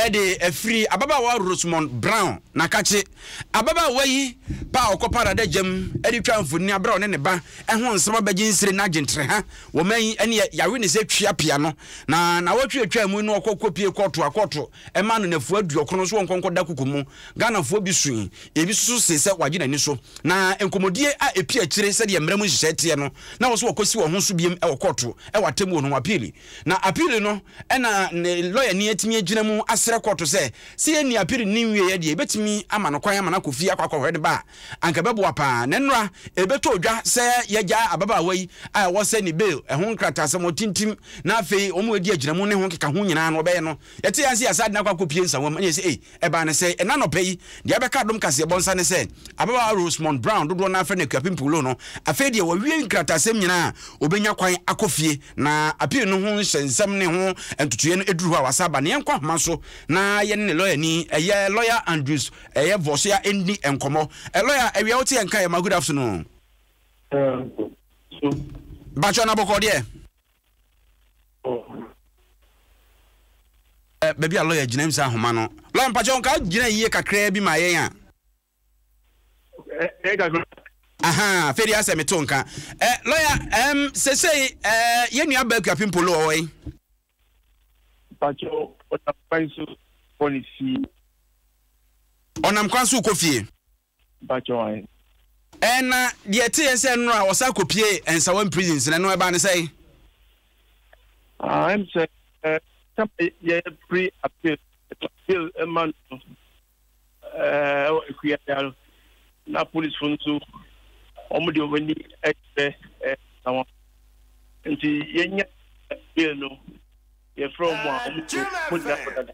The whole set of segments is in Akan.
de afiri ababaawa Rosemond Brown na kakye. Ababaawa yi pa a ɔkɔpa adadagyam de twa mfonini abere a ɔne ne ba ho nsɛm abɛgye nsire no agye ntereha wɔ ɔman yi ani a yɛawe ne sɛ tua pea no. Na nnawɔtwe a atwaa mu yi na ɔkɔ kɔpie kɔɔto a kɔɔto maa no nnafua aduɔkron nso ɔnkɔ nkɔda kuku mu. Ghanafoɔ bi sui, ebi nso so see sɛ wɔagye n'ani so. Na nkɔmmɔdie a ɛpue akyire sɛdeɛ mmara mu nhyehyɛe teɛ no, na wɔsɛ wɔkɔsi wɔn ho so bio wɔ kɔɔto wɔ atemmuo no ho, appeal. Na appeal no na ne lɔyani atumi agyina mu asrɛ kɔɔto sɛ, sɛ yɛnni appeal no nwieɛ deɛ yɛbɛtumi ama no kwan ama no akɔ fie akɔ akɔhwɛ ne ba a, anka ɛbɛboa pa ara. Na nnora, ɛbɛtɔ dwa sɛ yɛagyaa ababaawa yi a ɛwɔ sɛ ne bail ho nkrataasɛm ɔtintim na afei wɔadi agyinamu ne ho nkekaho nyinaa no wɔbɛyɛ no Yɛte yɛn ase yɛ asaden akɔ akɔpie nsawam na yɛse ei, ɛbaa no sɛe. Ɛnnɛ anɔpa yi, deɛ abɛka adom kaseɛbɔ nsa ne sɛ, ababaawa Rosemond Brown, dodoɔ no ara frɛ no Akuapem Pullo no, afei deɛ wawie nkratasɛm nyinaa a ɔbɛnya kwan akɔ fie, na appeal no ho nhyɛnsɛm ne ho ntotoeɛ no aduru hɔ a wasan aba. Na yɛnkɔ ahoma so na yɛne ne lɔyani, ɛyɛ Lɔya Andrews ɛyɛ Vosoya nni nkɔmmɔ. Lɔya, awia wote yɛn nka yɛ ma good afternoon. Ɛɛ, so. Bakyɛ, na bɔkɔɔ deɛ? Ɛ, baabi a lɔya gyina, misa nhoma no. Lɔya, mpakyɛw, nka gyina yiye kakraa bi ma yɛn a. Ɛ, ɛyɛ kakra. Ahaa, afei deɛ asɛ meto nka. Ɛ, lɔya, ɛɛm, sesei, ɛ, yɛn nua Abba Akua Pimpolo, ɔwɔ he? Mpakyɛw, ɔnam kwan so rekɔ ne fie. Ɔnam kwan so rekɔ fie. Mpakyɛw ahe? Ɛɛ na deɛ ɛteɛ sɛ nnora a ɔsan kɔpiee Nsawam prison sɛ ɛno ɛbaa no sɛn? Ah ɛm sɛ ɛɛ sɛma yɛ pre appeal appeal ɛma no no ɛɛ ɛwɔ Akuayaa no na police fo no nso wɔn de wɔn ani ɛkyerɛ ɛɛ Nsawam nti yɛnya appeal no yɛfrɛ wɔn a wɔn nso wɔn nyina kɔ dada.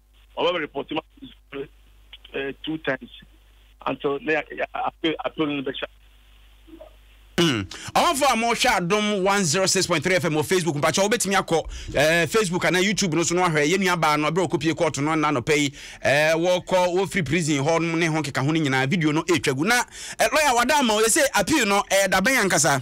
ɔbɛ bɛ report ma eh, two times until na yɛ appeal appeal no bɛ hyɛ. Hmm. ɔmanfo a wɔhwɛ adom 106.3 fm wɔ facebook mpakyɛ wobɛtumi akɔ eh, facebook anaa youtube no so no ahwɛ yɛnua baa no berɛ ɔkɔpie kɔɔto no nna nɔpɛ yi eh, wɔkɔ wɔfiri prison hɔ nom ne ho keka ho no nyinaa video no ɛtwa gu na eh, lɔya wada ama ɔyɛ sɛ appeal no ɛyɛ dabɛn ankasa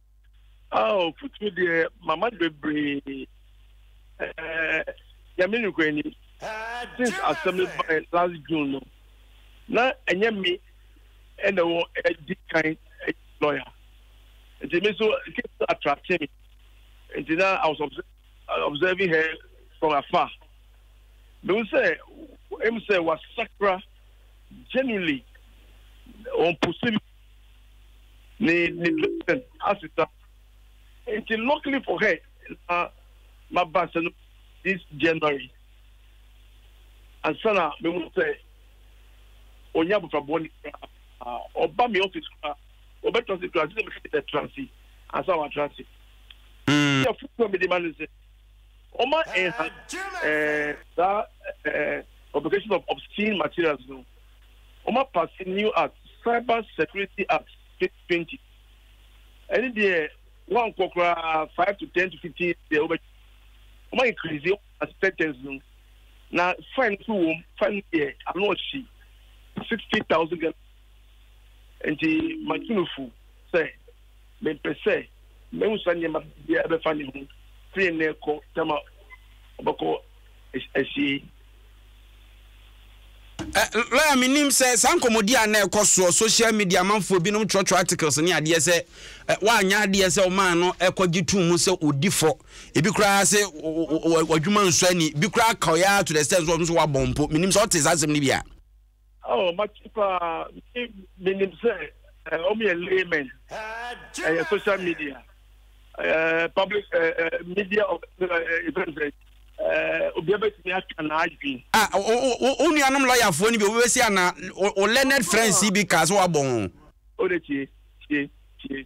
Ao futuro deɛ mama no bebree ɛɛ nyame nukura anim since asɛm no bae last June no na ɛnyɛ me ɛna wɔ ɛdi kan lawyer nti me so case no attracte me nti na I was observing her from afar mehu sɛ ɛmu sɛ wasakra genuinely ɔmpose me ne ne blessing asesa nti luckily for her na ma ba sɛ no this january ansa na mehu sɛ ɔnyɛ abɔfra bɔne koraa ɔba me office koraa ɔbɛtra se koraa sɛ mekɛ dɛ tra se ansa watra se yɛ foforɔ mede ma no sɛ ɔma ɛha saa publication of obscene materials no wɔapase New Act, Cyber Security Act, twenty twenty. Ɛne deɛ wɔankɔ koraa five to ten to fifteen years deɛ wɔbɛtwa. Wɔn increase wɔn acceptance no na fine nso wɔm fine deɛ ano ɔhye sixty thousand ghana nti matunufo sɛ mempɛ sɛ mɛhu saa nneɛma biara bɛfa ne ho firi nnɛ kɔ tama ɔbɛkɔ ahyie Ɛ, lɔya, menim sɛ saa nkɔmmɔdi a na ɛkɔ soɔ, social media amanfoɔ binom twerɛtwerɛ articles ne adeɛ sɛ ɛ, woanyɛ adeɛ sɛ womaa no kɔgye too mu sɛ ɔdi fɔ. Ebi koraa se wo, wo, wo, w'adwuma nsɔ ani. Bi koraa kaw yɛ ara to the extent sɛ ɔno nso wabɔn mpo. Menim sɛ wote saa asɛm no bi a. Oh mate paa menim sɛ wɔn yɛ laymen ɛyɛ social media public media of ɛfɛn sɛ obiara bɛtumi aka n'adwene. Ah, wo nuanom lɔyafoɔ no bi obi bɛsi ana wo learned friends yi bi kaa sɛ wabɔ ho. O de tie tie tie.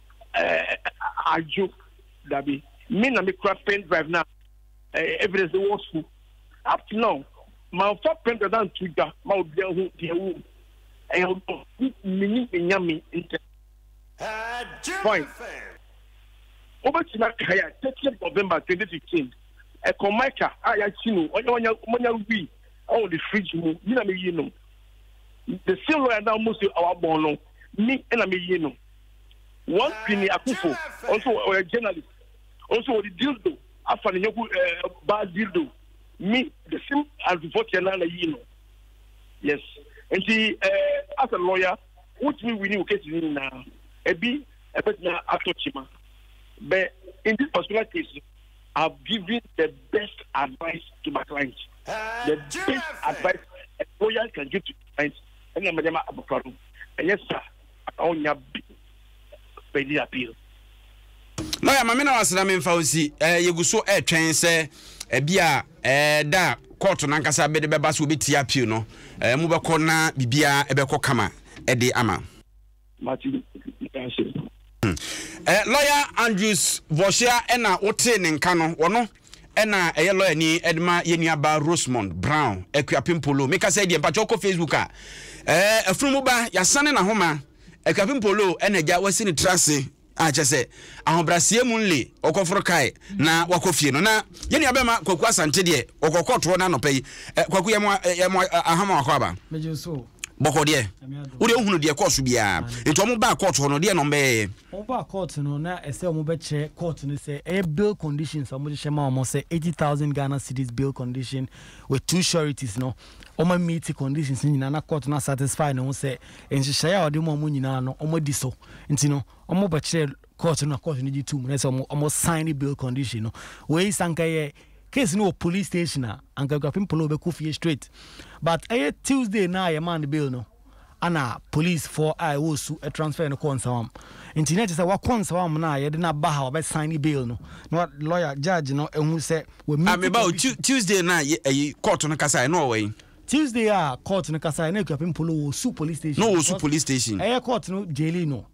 eh, adwo dabi me na mekura pen drive na eh, evidence wɔ sukuu up to now manfa pen drive na nto dwa ma obi ahu deɛ wɔ mu ɛyɛ ɔdɔ menim nyame ntɛ fine wobɛtumi aka yɛ thirtieth november twenty fifteen ɛkɔ mike a yɛakyi no ɔnyɛ wanya manya wi ɔwɔ de fridge mu mi na meyi no the same lawyer na wɔn si awabɔn no mi na meyi no. One Kwini Akufo nso ɔyɛ journalist nso ɔde dildo afa ne yɔnko ɛɛ baa dildo mi the same adufo kyɛ na na yi no yes nti ɛɛ as a lawyer wotumi wini wo cases nyinaa ebi ɛbɛtumi atɔ kyima bɛ in this particular case I have given the best advice to my client the best advice a lawyer can give to client ɛna mɛdɛma abɔfra no ɛyɛ sa. ɔnya bi bɛdi appeal. Lɔya Mame na wasra me mfa nsi eh, yɛgu so ɛretwɛn sɛ ebi a eh, da a kɔɔto no ankasa bɛde bɛba so wɔbɛtie appeal no eh, mu bɛkɔ na biribiara ɛbɛkɔ kama ɛde ama. Mate ase. Hmm. Eh, lɔya Andrews Vɔhyia na wotee ne nka no, wɔno Ɛna a ɛyɛ lɔya ni de ma yɛn nua ba Rosemond Brown Akuapempolo. Me kasa yi deɛ mpakyɛw kɔ Facebook a. Ɛɛ afunumu ba yasane na homa. Akuapempolo ɛna agya wasi ne tra ase a kyɛ sɛ ahobraseɛ mu nle ɔkɔforo kae na wakɔ fie no na yɛn nua bɛma Kwaku Asante deɛ ɔkɔ kɔ toɔ na anɔpɛ yi ɛ Kwaku yɛ mo yɛ mo ahama wakɔ aba. Bɔkɔ deɛ. Wo deɛ wohunu deɛ kɔɔso biara. Nti wɔn baa kɔɔto hɔ no deɛ na wɔn bɛyɛɛ. Wɔbaa kɔɔto no na ɛsɛ wɔbɛkyerɛ kɔɔto no sɛ ɛyɛ bail conditions a wɔhyehyɛ ma wɔn sɛ eighty thousand Ghana cedis bail condition with two sureties no, wɔammiiti conditions no nyinaa na kɔɔto no asatisfy ne ho sɛ nhyehyɛe a wɔde ma wɔn nyinaa no wɔadi so nti no, wɔbɛkyerɛɛ kɔɔto no na kɔɔto no gye toom na ɛsɛ sɛ wɔsign bail condition no. Wei sɛ anka ɛyɛ case no wɔ police station a, anka Akuapem Polow bɛkɔ fie straight but ɛyɛ Tuesday no a yɛmaa no bail no, ana policefoɔ a ɛwɔ Osu transfer no kɔɔ Nsawam. Nti na ɛkyɛ sɛ wakɔ Nsawam no a yɛde no aba ha a wɔbɛsan ne bail no na wa lawyer judge no ahu sɛ wa meet condition. Meba o Tuesday no a ɛyi court no kasaeɛ no ɔwɔ he? Tuesday a court no kasaeɛ na Akuapem Polow wɔ Osu police station. Na ɔwɔ Osu police station. Ɛyɛ court no jaili no.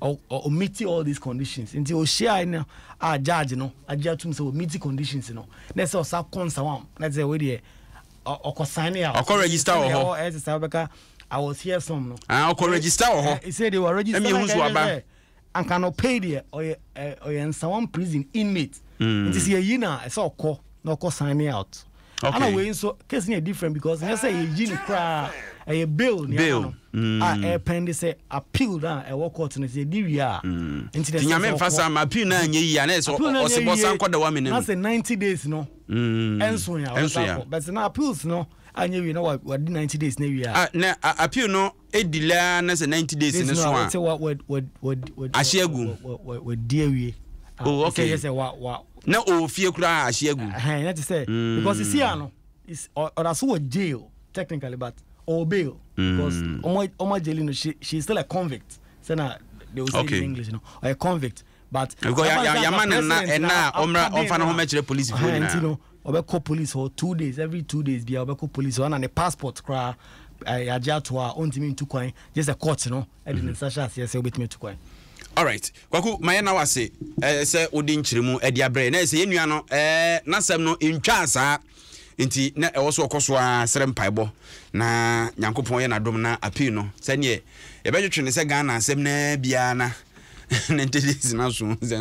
Ɔ ɔ ɔmiti all these conditions nti ohyiae no a judge no agye atum sɛ ɔmiti conditions no na ɛsɛ ɔsa kɔ nsawam na ɛsɛ wei deɛ ɔkɔ sign a ɔkɔ register wɔ hɔ ɛsɛ sɛ ɔbɛka I was here some no ah ɔkɔ register wɔ hɔ ɛsɛ deɛ wɔ register ɛmi ehusu aba anka no pay deɛ ɔyɛ ɔyɛ nsawam prison inmate nti sɛ yɛyi na ɛsɛ ɔkɔ na ɔkɔ sign out. Okay. Ana wei nso case no yɛ different because nyɛ sɛ yɛyi no koraa ɛyɛ bail ne ama no mm. a ɛpɛn de sɛ appeal no a ɛwɔ court no sɛ yɛdi wie a mm. nti na nyame mfa sa ma appeal no anyɛ yie anɛ sɛ ɔsebɔ sa nkɔda wa menam na sɛ 90 days no mm. ɛnso yɛ a wɔsa kɔ but na appeals no anyɛ wie na wadi 90 days na wie a ah, na appeal no di lɛ ara na sɛ ninety days no so a, ahye agu. Wadi awie. Oh, ah, okay. Na ɔwɔ fie koraa ahye agu. Na te sɛ hmm. because esi ano ɔda so wɔ jail technically but ɔwɔ bail because ɔmo hmm. ɔmo ajeli no she she is still a convict sɛ na they will say okay. in English no ɔyɛ convict but yɛama no nna ɛna a ɔmmra ɔmfa no ho mɛkyerɛ polisi foɔ nyinaa nti no ɔbɛkɔ police hɔ two days every two days bia ɔbɛkɔ police hɔ ana ne passport koraa yɛagye ato a ɔntumi ntu kwan gye sɛ court no ɛde ne mhm. nsa hyɛ aseɛ sɛ wobɛtumi atu kwan alright kwaku ma yɛna wase eh, sɛ wode nkyerɛmu de abrɛ na ɛsɛ yɛnnua no eh, n'asɛm no ntwaa saa Nti na ɛwɔ sɛ ɔkɔ so ara srɛ mpaebɔ na Nyankopɔn yɛ n'adom na appeal no. Sɛdeɛ yɛbɛtwetwe no sɛ Ghana asɛm no ara bi ara na ne ntetee sena so.